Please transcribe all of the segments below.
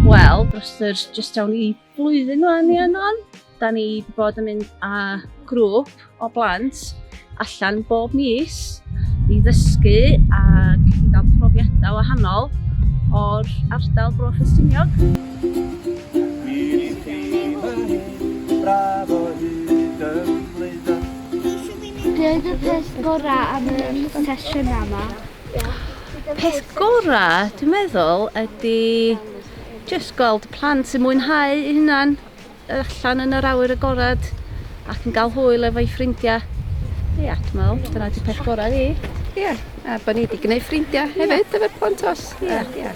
Wel, dros yr jyst awn i flwyddyn o'n ni yno, da ni wedi bod yn mynd â grŵp o blant allan bob mis i ddysgu ac i gael profiadau wahanol o'r ardal Bro Ffestiniog. Bravo, hyd yn Be oedd y peth gorau am y sesiwn yma? Peth gorau, dwi'n meddwl, ydy jyst gweld plant sy'n mwynhau eu hunan allan yn yr awyr agored ac yn cael hwyl efo'i ffrindiau. Ia, dwi'n meddwl, dyna di peth gorau fi. Ia, a bod ni wedi gwneud ffrindiau hefyd efo'r plant os. Ia, ia.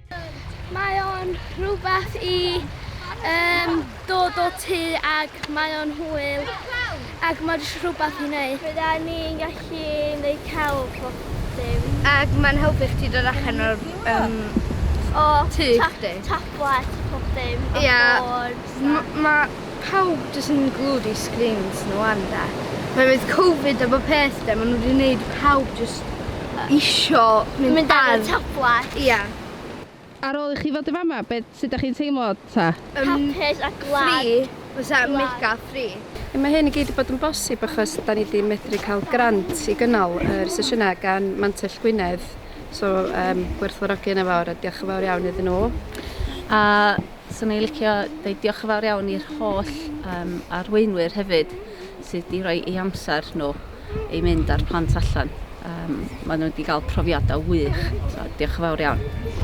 Mae o'n rhywbeth i um, dod o tu ac mae o'n hwyl ac mae jyst rhywbeth i wneud. Bydda ni'n gallu wneud celf o dim. Ac mae'n helpu chdi dod allan o'r um, o, tu chdi. Tablet pob dim. Ia. Mae Pawb jyst yn glued i sgrins nhw wan de. Oherwydd covid a bob peth de ma' nhw wedi neud i pawb jyst isio mynd ar... Mynd ar y tablets. Ia. Ar ôl i chi fod yn fama be- sut dach chi'n teimlo ta? Hapus a glad. Free fysa mega free. Ie mae hyn i gyd 'di bod yn bosib achos 'da ni 'di medru cael grant i gynnal yr sesiynau gan Mantell Gwynedd so yym gwerthfawrogi hynna fawr a diolch yn fawr iawn iddyn nhw. A Swn i'n licio deud diolch yn fawr iawn i'r holl um, arweinwyr hefyd sydd wedi rhoi ei amser nhw i mynd â'r plant allan. Um, maen nhw wedi cael profiadau wych, so diolch yn fawr iawn.